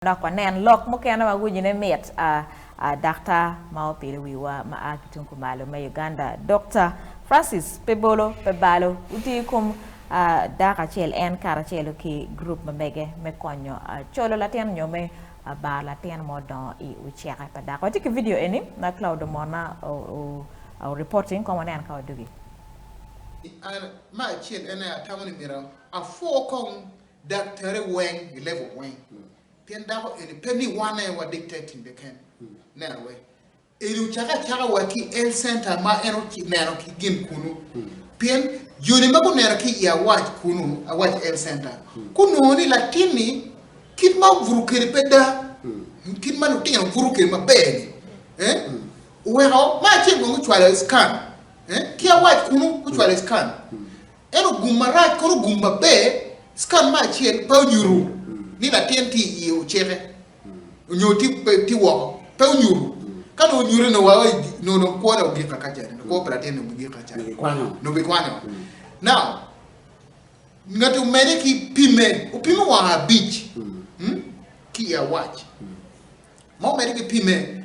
Dok wanen lok mukene ma winyone mit. A A dakta ma opilo wiwa ma a ki tung kumalo me Uganda, Dokta Francis Pebolo Pebalo, otiyo i kom a dako acel en karacelo ki gurup ma mege me konyo a colo latin nyo me a baro latin ma odongo i oceke pa dako. Watye ki vidio eni ma Claudo Mona o o a reporting kong wanen ka wadugi. I An, ma acel en aye atamo ni myero apwo kong Dak tere weng gilebo weng, pien dako eni pe ni wane wa dik te timbe ken. Neno we eni ocake acaka wa ki Health Center ma en oneno ki gin kunu, pien joni ma guneno ki i awac kunu, awac Health Center, gunongo ni latin-ni kit ma obuto kwede pe da, kit ma lutino buto kwede maber-ni, eh, oweko ma acel bene gucwalo i scan, eh, ki awac kunu gucwalo i scan. En ogum marac kono ogum maber, scan me acel pe onyutu ni latin tye i iye oceke onyo tye woko pe onyutu ka dong onyutu onongo wa onongo dong kwo ne ogik kaka cani onongo kwo pa latin ni ogik kaka cani onongo gikwanyo now ngati omede ki pime opime wang abic ki i awac ma omede ki pime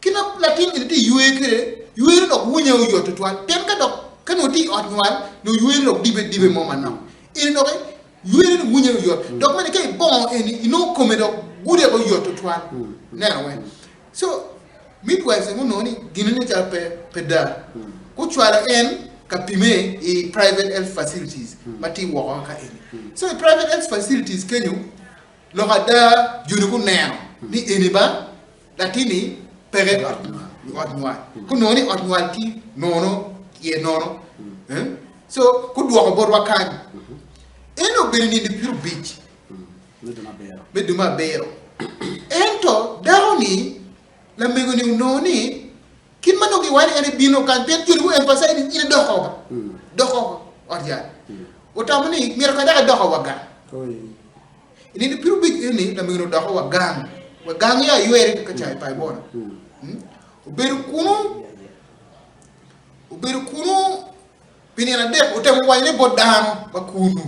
Kit ma latin eni tye ywer kwede, ywere dok wunye oyot tutwal. Pien ka dok ka nongo itye i ot nywal, nongo ywere dok dibe dibe mo manok. Eni doki ywere ni wunye oyot. Dok bene ka ibongo eni, inongo kome dok gude oyot tutwal. Ineno weng. So, midwives eni gunongo ni gin eni calo pe pe daa. Gucwalo en ka pime i private health facilities ma tye woko kaka eni. So i private health facilities kenyo, lok ada joni guneno ni eni ba Latin-ni peke i ot nywal, ku nongo ni ot nywal tye nono, tye nono, so gudwoko botwa kany. En obedo nindo pyerrubic me dumo abiro, ento dako-ni, lamego-ni onongo ni Kit ma nongo giwacci en ebino kany pien joni guemphasize ni in idok oko ka, dok oko ot yat. Otamo ni, Myero kadi dok adoko wa gang. I nino piny obedo ni lamego-ni odoko wa gang, wa gang yo aywer ka ca i Paibona. Obedo kunu obedo kunu pi nino adek, otemo wanyone bot dano ma kunu.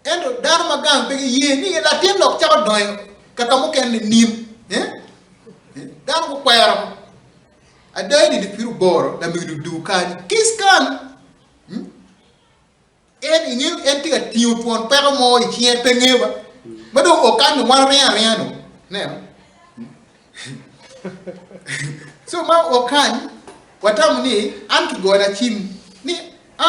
Ento dano ma gang pe giye ni latin lok cako donyo ka ka mukene nining? Dano gukwero ada i nino pire oboro lamege dudu kany kic kan en inge en tye ka tingo twon peko mo i cinge pe nge ba ma dong o kan ni wan ringo aringa no neno so ma o kan watamo ni an ki gona cim ni a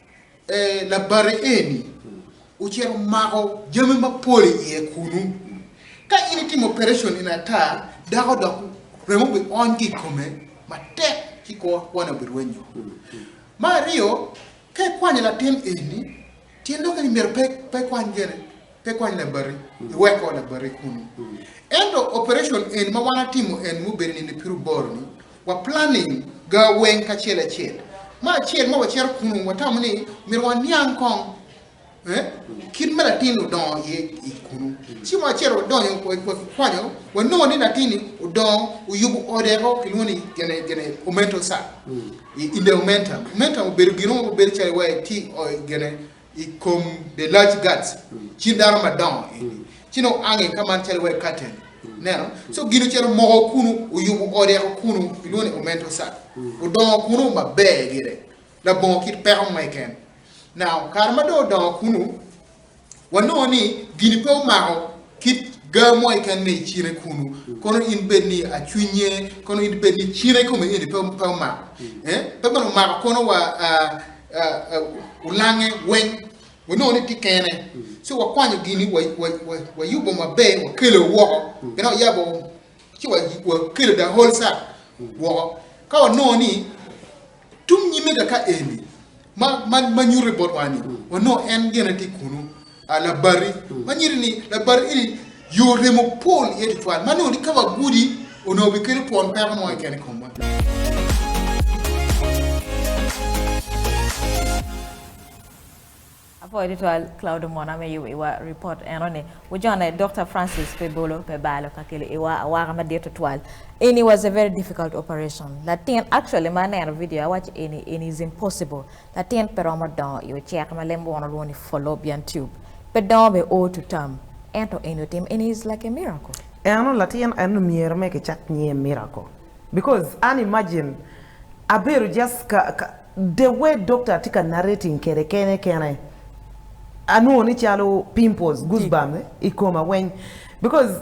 E, labari eni ocito omako jami mapol i iye kunu. Ka in itimo operecon eni ata, dako dok remo obiony ki i kome matek ci kor kwane obirwenyo. Me aryo, ka ikwanyo latin eni, tyen dok ni myero pe, pe ikwany gene, pe ikwany labari, iweko labari kunu. Ento operecon eni ma wan atimo eni mubedo nino pi ruboro-ni, Wa planning ga weng kacel acel. Ma acel ma wacito kunu watamo ni myero waniang kong eh kit ma latin odongo iye i kunu. Ci wa cito wadonyo wakikwanyo wanongo ni latin ni odongo oyubo ode o kilwongo ni gene gene omental side. Indeomentum. Omentum obedo gin mo ma bedo calo iwaci tye o gene. i kom the large gods cin dano madongo eni ci nongo ange ka man calo wai curtain neno so gin ocito moko kunu oyubo ode ko kunu kilwongo ni omento sat odongo kunu maber gire labongo kit peko mo keken now kare ma dong odongo kunu wanongo ni gini pe omako kit gaa mo keken me i cine kunu kono in bed ni acwinye kono in bed ni cine kome eni pe omako eh pe bene omako kono wa olange weng wanongo ni tye kene ci wakwanyo gini wayubo maber wakelo woko bene wayabo ci wakelo the whole set woko ka wanongo ni tung nyime ka eni ma nyuto botwa ni wanongo en gene tye kunu. A Labati, ma nyinge ni Labati eni yo remo pol iye tutwal, ma nongo ni ka wagudi onongo bikelo twon peko mo keken i komwa. Apwoyo tutwal Claudo Mona me yubo iwa ripot eno ni. Wujone Dokta Francis pe bolo pe balo ka kelo iwa awaka madit tutwal eni was a very difficult operation latin actually ma aneno video awaco eni eni is impossible Latin pe romo dongo i ocek ma lem wono lwongo ni Fallopian tube, pe dongo be o to tam, ento eni otim eni is like a miracle. Eno latin eno myero me kicak nyinge miracle because an imagine abedo just ka ka the way doctor tye ka narrating kede kene kene anwongo ni calo pimples, goose bumps, ikoma weng because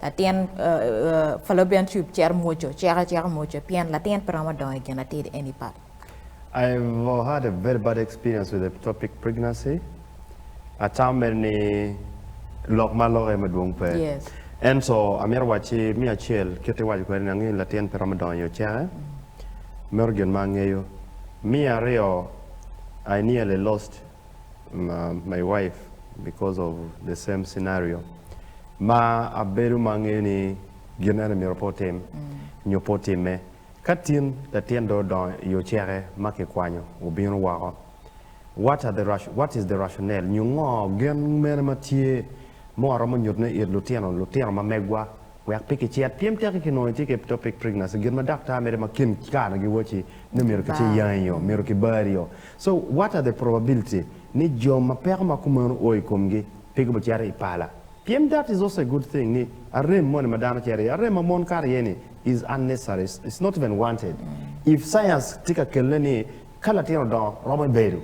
Latin Fallopian tube cito mwoco, cek aceka mwoco pien latin pe romo dongo i ginatid eni pat. I have had a very bad experience with ectopic pregnancy, atame ni lok ma alokke madwong pe. Ento amito wacci me acel kit iwaco kwede ni angeyo ni latin pe romo dongo i oceke, meno gin ma angeyo. Me aryo I nearly lost. my wife because of the same scenario ma abedo ma angeyo ni gin ene myero pe otim nyo pe otimme. Ka tin latin dong odongo i oceke ma kikwanyo obino woko, what are the what is the rationale nyo ngo gen mene ma tye ma waromo nyuto ne it lutino lutino ma megwa wek pe kicit pien teki ki nongo itye ki eptopic pregnancy gin ma daktar mede ma kin kare na giwaci ni myero kice yangi oo, myero kibari oo. So what are the probability ni jo ma peko ma kumeno o i komgi pe gubicito i pala? Pien that is also a good thing ni arem moni ma dano cito iye, arem ma mon kato iye ni is unnecessary, it's not even wanted. If science tye ka kelle ni ka latin odongo romo i bedo,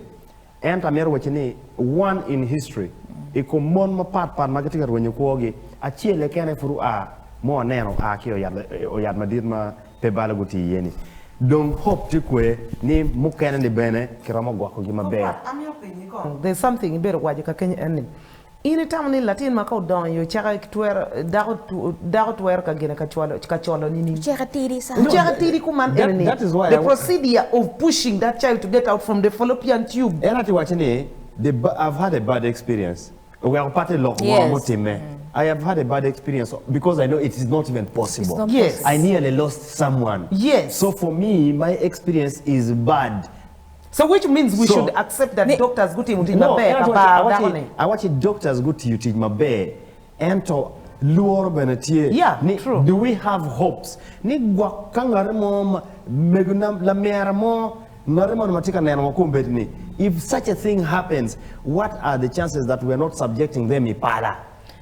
ento amito wacci ni one in history i kom mon mapat pat ma gitye ka rwenyo kwogi, acel keken aye pud oa mo aneno oa ki oyat madit ma pe balo gutii iye-ni. Dong hope tye kwee ni mukene-ni bene kiromo gwokogi maber. There's something ibedo waco kakeny en ni, in itamo ni latin ma ka odongo i ocaka twero, dako, dako twero ka gene ka colo nining? Ocaka tidi sa. Ocaka tidi kuman ene ni, the procedure of pushing that child to get out from the fallopian tube. En aye tye wacce ni, the, I've had a bad experience. Oweko patte lok ngo ma otimme? I have had a bad experience because I know it is not even possible. I nearly lost someone. So for me my experience is bad. So which means we should accept that doctors gutimo tic maber ka bar dako ni. No, awacci doctors gutiyo tic maber ento lworo bene tye ni do we have hopes ni gwok ka ngat mo, mego na, lamera mo, Ngati moni ma tye ka neno woko obed ni, if such a thing happens, what are the chances that we are not subjecting them i pala?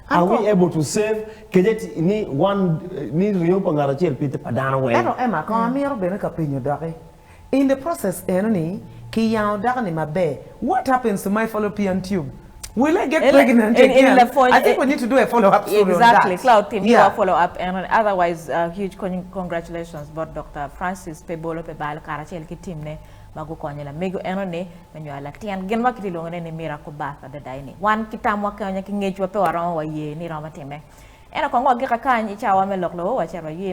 An Are we kong. able to save kejek ni wan ni ringo pa ngat acel pite pa dano weng? Ento Emma kong amito bene ka penyo doki in the process eno ni ki yango dako ni maber, what happens to my fallopian tube? Will I get pregnant again? Eni lapwony. I think we need to do a follow up story exactly. on that. Exactly. Cloud team yeah. follow up and otherwise uh, huge congratulations both Dr. Francis pe bolo pe balo karacel ki team ne ma gukonyo lamego eno ni me nywalo latin. Gin ma kitilongo ne ni miracle birth adada ini. Wan ki tam wa kenya ki ngec wa pe waromo wa ye ni romo time. Eno kongo agika kany i cawa me lok lowo wa cero wa ye